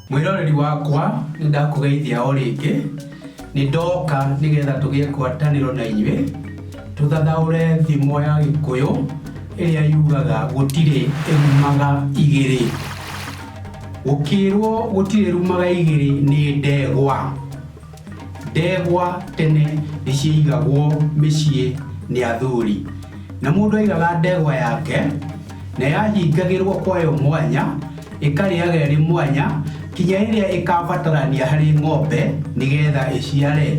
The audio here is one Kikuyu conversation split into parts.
mwĩroreri wakwa nĩ ndakũgeithia o rĩngĩ nĩ ndoka nĩgetha tũgĩe ngwatanĩro na inyuĩ tũthathaũre thimo ya gĩkũyũ ĩrĩa yugaga gũtirĩ ĩrumaga igĩrĩ gũkĩrwo gũtirĩ rumaga igĩrĩ nĩ ndegwa Ndegwa tene nĩ ciaigagwo mĩciĩ nĩ athuri, na mũndũ aigaga ndegwa yake na yahingagĩrwo kwayo mwanya, ĩkarĩaga ĩrĩ mwanya kinya ĩrĩa ĩkabatarania harĩ ng'ombe nĩgetha ĩciare.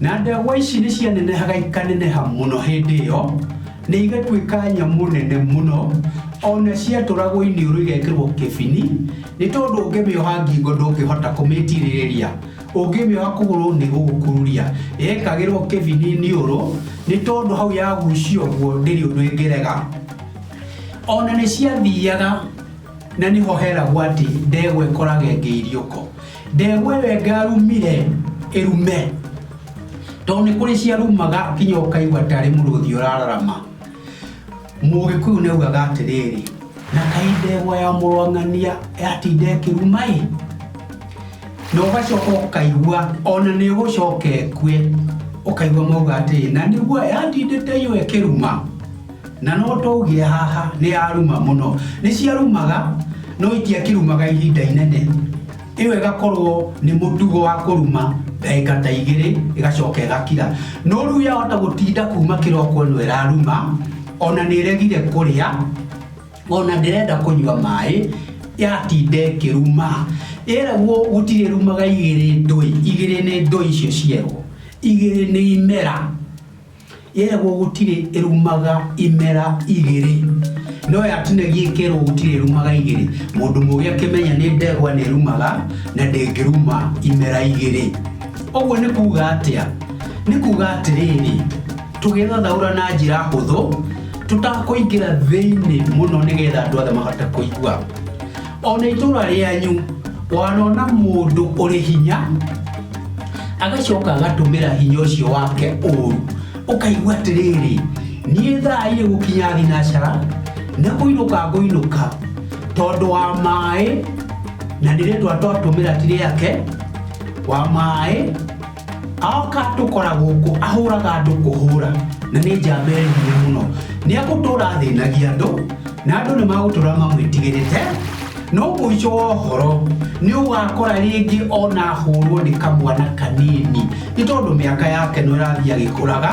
Na ndegwa ici nĩ cianenehaga ikaneneha mũno hĩndĩ ĩyo. nĩ igatuĩka nyamũ nene mũno ona ciatũragwo iniũrũ igekĩrwo kĩbini nĩ tondũ ũngĩmĩoha ngingo ndũngĩhota kũmĩtirĩrĩria ũngĩmĩoha kũgũrũ nĩ gũgũkururia yekagĩrwo kĩbini iniũrũ nĩ tondũ hau yagucio guo ndĩrĩ ũndũ ĩngĩrega ona nĩ ciathiaga na nĩho heragwo atĩ ndegwa ĩkorage ngĩiriũko Ndegwa ĩyo ĩngarumire ĩrume tondũ nĩ kũrĩ ciarumaga nginya ũkaigua tarĩ mũrũthi ũrararama mũgĩkũyũ nĩ augaga atĩrĩrĩ na kaĩ ndegwa ya mũrwang'ania yatinda ĩkĩruma ĩ na ũgacoka ũkaigua ona nĩ ũgũcoka ĩkue ũkaigua mauga atĩrĩ na nĩguo yatindĩte iyo ĩkĩruma Na no tũũgĩe haha nĩ aruma mũno. Nĩ ciarumaga no itiakirumaga ihinda inene. Ĩyo ĩgakorwo nĩ mũtugo wa kũruma ndagĩka ta igĩrĩ ĩgacoka ĩgakira. No rĩu yahota gũtinda kuma kĩroko ĩno ĩraruma, ona nĩ ĩregire kũrĩa, ona ndĩrenda kũnyua maĩ, yatinda ĩkĩruma. Yeragwo gũtirĩ ĩrumaga igĩrĩ ndũĩ, igĩrĩ nĩ ndũĩ icio cierwo. Igĩrĩ nĩ imera. Yeragwo gũtirĩ ĩrumaga imera igĩrĩ no yatinagia ĩkerwo gũtirĩ ĩrumaga igĩrĩ. Mũndũ mũgĩ akĩmenya nĩ ndegwa nĩ ĩrumaga na ndĩngĩruma imera igĩrĩ. Ũguo nĩ kuga atĩa? Nĩ kuga atĩrĩrĩ, tũgĩthathaũra na njĩra hũthũ tũtakũingĩra thĩinĩ mũno nĩgetha andũ othe mahote kũigua. ona itũra rĩanyu wanona mũndũ ũrĩ hinya agacoka agatũmĩra hinya ũcio wake ũru ũkaigua atĩrĩrĩ niĩ thaa irĩ gũkinya thinacara nĩ kũinũka ngũinũka tondũ wa maĩ na nĩ rĩtwa twatũmĩra ti rĩake wa maĩ aoka atũkora gũkũ ahũraga andũ kũhũra na nĩ njamba ĩrĩ hinya mũno nĩ agũtũra athĩnagia andũ na andũ nĩ magũtũra mamwĩtigĩrĩte no mũico wa ũhoro nĩ ũgakora rĩngĩ ona ahũrwo nĩ kamwana kanini nĩ tondũ mĩaka yake no ĩrathiĩ agĩkũraga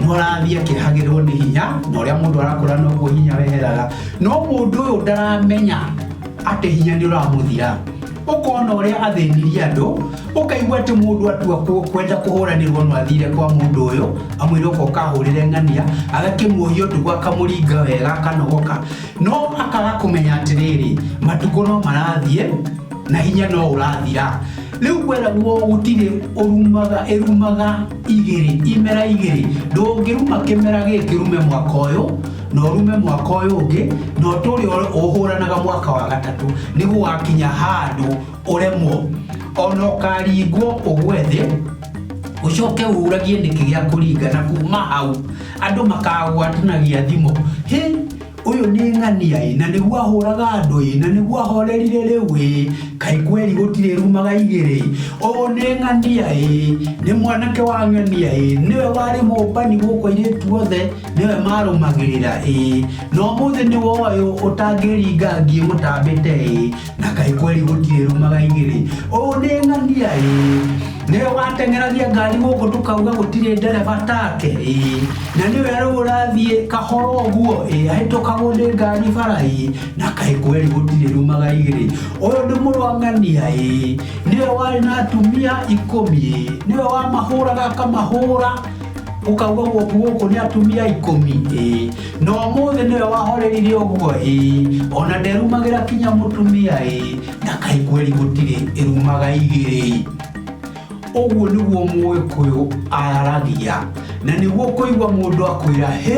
no arathiĩ akĩhagĩrwo nĩ hinya na ũrĩa mũndũ arakũra noguo hinya weheraga no mũndũ ũyũ ndaramenya atĩ hinya nĩ ũramũthira ũkona ũrĩa athĩnirie andũ ũkaigua atĩ mũndũ atua kũ- kwenda kũhũranĩrwo no athire kwa mũndũ ũyũ amwĩre ũka ũkahũrĩre ng'ania agakĩmuohia ũtukũ akamũringa wega akanogoka no akaga kũmenya atĩrĩrĩ matukũ no marathiĩ na hinya no ũrathira rĩu kweragwo gũtirĩ ũrumaga ĩrumaga igĩrĩ imera igĩrĩ ndũngĩruma kĩmera gĩkĩ rume mwaka ũyũ na ũrume mwaka ũyũ ũngĩ na ũtũre ũhũranaga mwaka wa gatatũ nĩ gũgakinya handũ ũremwo ona ũkaringwo ũgwe thĩ ũcoke ũragie nĩkĩ gĩa kũringa na kuma hau andũ makagwatanagia thimũ hĩ ũyũ nĩ ng'ania ĩ na nĩguo ahũraga andũ ĩ na nĩguo ahorerire rĩu ĩ kaĩ kweri gũtirĩ rumaga igĩrĩ ĩ ũũ nĩ ng'ania ĩ nĩ mwanake wa ng'ania ĩ nĩwe warĩ mũmbani gũkũ airĩtu othe nĩwe marũmagĩrĩra ĩ no mũthĩ nĩ woyũ ũtangĩringa ngĩmũtambĩte ĩ na kaĩ kweri gũtirĩ rumaga igĩrĩ ũũ nĩ ng'ania ĩ nĩwe wateng'eragia ngari gũkũ tũkauga gũtirĩ ndereba take ĩ na nĩwe rĩu ũrathiĩ kahoro ũguo ĩ ahĩtũkagwo nĩ ngari bara ĩ na kaĩ kweri gũtirĩ rumaga igĩrĩ ũyũ nĩ mũrwang'ania ĩ nĩwe warĩ na atumia ikũmi ĩ nĩwe wamahũraga akamahũra ũkauga gwaku gũkũ nĩ atumia ikũmi ĩ na ũmũthĩ nĩwe wahorerire ũguo ĩ ona nderumagĩra kinya mũtumia ĩ na kaĩ kweri gũtirĩ ĩrumaga igĩrĩ ũguo nĩguo mũgĩkũyũ aragia na nĩguo kũigua mũndũ akwĩra hĩ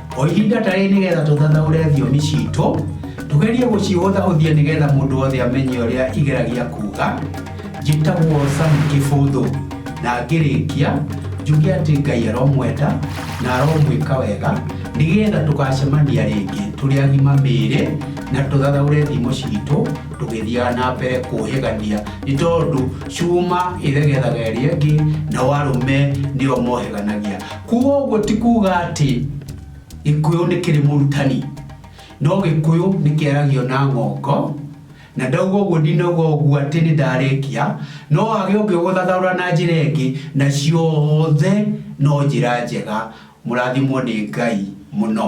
O ihinda ta rĩrĩ nĩgetha tũthathaũre thiomi citũ, tũgerie gũcihũthahũthia nĩgetha mũndũ wothe amenye ũrĩa igeragia kuuga. Njĩtagwo Sam Kĩbũthũ, na ngĩrĩkia njuge atĩ Ngai aromwenda na aromwĩka wega nĩgetha tũgacemania rĩngĩ tũrĩ agima mĩĩrĩ na tũthathaũre thimo citũ tũgĩthiaga na mbere kũhĩgania nĩ tondũ cuma ĩthegethaga ĩrĩa ĩngĩ nao arũme nĩo mohĩganagia. Kwoguo ti kuuga atĩ Gĩkũyũ nĩ kĩrĩ mũrutani, no Gĩkũyũ nĩ kĩaragio na ng'ongo, na ndauga ũguo ndinauga ũguo atĩ nĩ ndarĩkia, no wage ũngĩgũthathaũra na njĩra ĩngĩ, na ciothe no njĩra njega. Mũrathimwo nĩ Ngai mũno.